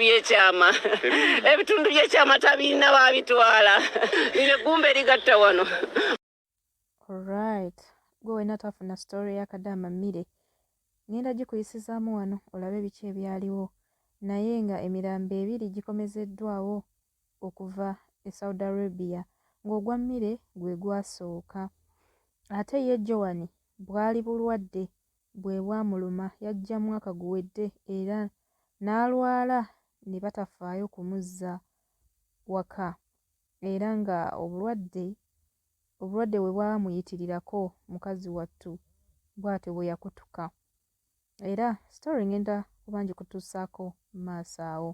byekyama ebitundu byekyama tabirina babitwala lino eggumba erigatta wano right gwe wena twafuna story ya kadama mire ngenda gikuyisizaamu wano olabe biki ebyaliwo naye nga emirambo ebiri gikomezeddwawo okuva e saudi arabia ng'ogwa mire gwe gwasooka ate ye jowani bwali bulwadde bwe bwamuluma yajja mwaka guwedde era n'alwala ne batafaayo kumuzza waka era ng'obulwadde obulwadde bwe bwamuyitirirako mukazi wattu bw'atyo bwe yakutuka era sitori ngenda kuba ngikutuusaako maaso awo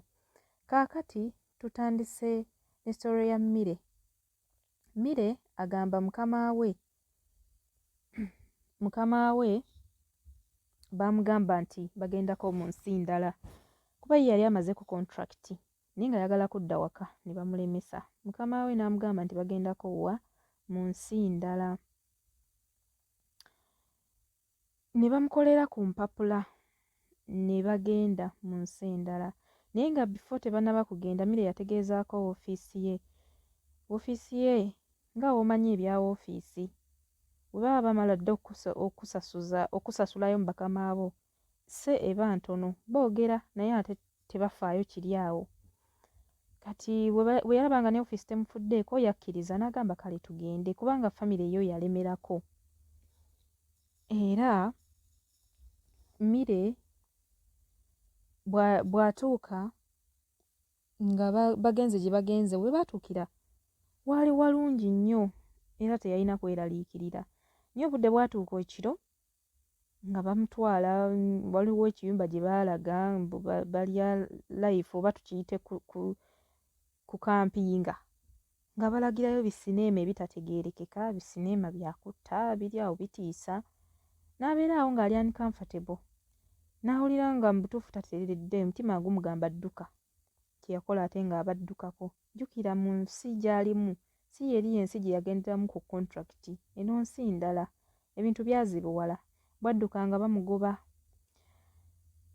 kaakati tutandise ne sitori ya mmire Mire agamba mukama we mukama we baamugamba nti bagendako mu nsi ndala kuba ye yali amaze ku kontulakiti naye nga yagala kudda waka ne bamulemesa mukama we n'amugamba nti bagendako wa mu nsi ndala ne bamukolera ku mpapula ne bagenda mu nsi endala naye nga bifo tebanaba kugenda mire yategeezaako woofiisi ye woofiisi ye nga womanyi ebya woofiisi bwe baba bamala dda okusasulayo mu bakama bo se eba ntono boogera naye ate tebafaayo kiri awo kati bwe yalaba nga ne ofiisi temufuddeeko yakkiriza n'agamba kale tugende kubanga famire yo yalemerako era mmire bw'atuuka nga bagenze gye bagenze we baatuukira waali walungi nnyo era teyalina kweraliikirira naye obudde bwatuuka ekiro nga bamutwala waliwo ekiyumba gye baalaga mbu balya life oba tukiyite ku kampinga nga balagirayo bisineema ebitategeerekeka bisineema byakutta biri awo bitiisa n'abeera awo ng'ali uncomfortable n'awulira nga mu butuufu tateredde omutima gumugamba dduka kye yakola ate ng'aba addukako. Jjukira mu nsi gy'alimu si y'eri y'ensi gye yagenderamu ku kontulakiti. Eno nsi ndala. Ebintu byazibuwala. Bw'adduka nga bamugoba.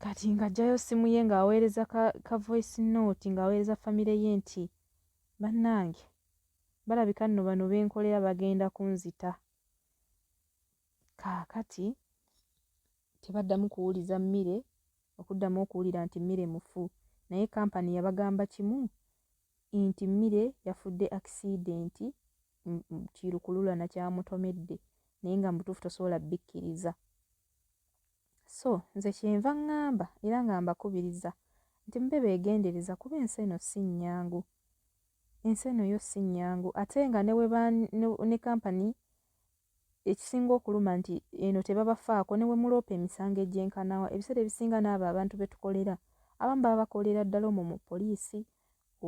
Kati ng'aggyayo ssimu ye ng'aweereza ka, ka voice note ng'aweereza famire ye nti, Bannange, balabika nno bano be nkolera bagenda kunzita. Kaakati tebaddamu kuwuliza Mire okuddamu okuwulira nti Mire mufu naye kampani yabagamba kimu nti Mire yafudde akisiidenti nti lukululana kyamutomedde naye nga mu butuufu tosobola bbikkiriza. So nze kyenva ngamba era nga mbakubiriza nti mube beegendereza kuba ensi eno si nnyangu. Ensi eno yo si nnyangu ate nga ne kampani Ekisinga okuluma nti eno tebabafaako ne bwe muloopa emisango egyenkanawa. Ebiseera ebisinga n'abo abantu be tukolera abamu baba bakolera ddala omwo mu poliisi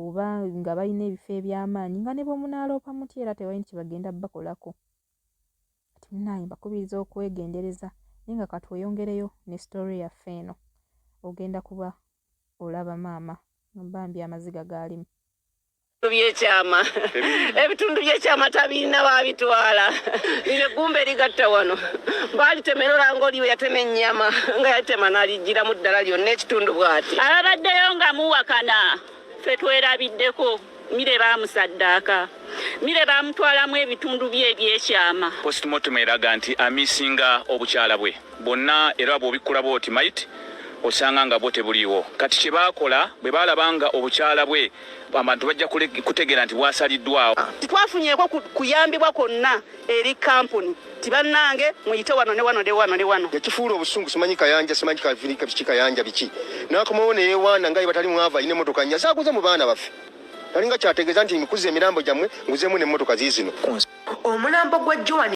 oba nga balina ebifo eby'amaanyi nga ne bwe munaaloopa mutya era tewali nti kye bagenda bakolako. Kati munnange mbakubiriza okwegendereza naye nga ka tweyongereyo ne sitoore yaffe eno. Ogenda kuba olaba maama bambi amaziga gaalimu. byekyama ebitundu byekyama tabirina babitwala lino eggumba erigatta wano baalitemera olanga oliwe yatema ennyama nga yalitema nalijjiramu ddala lyonna ekitundu bwati ababaddeyo nga muwakana fe twerabiddeko mire bamusaddaaka mire bamutwalamu ebitundu bye ebyekyama postmortem eraga nti amisinga obukyala bwe bwonna era bwobikkula bwoti mayiti osanga nga bwo tebuliiwo kati kye baakola bwe baalaba nga obukyala bwe abantu bajja kutegeera nti bwasaliddwawo. Tetwafunyeeko kuyambibwa kwonna eri kampuni nti bannange muyite wano ne wano ne wano ne wano. Yakifuula obusungu simanyi kayanja simanyi kavirika biki kayanja biki n'akomawo ne yeewaana nga ye batali mwava alina emmotoka nnya zaaguze mu baana baffe talinga kyategeeza nti nkuze emirambo gyammwe nguzeemu n'emmotoka ziizino. Omulambo gwa Joan.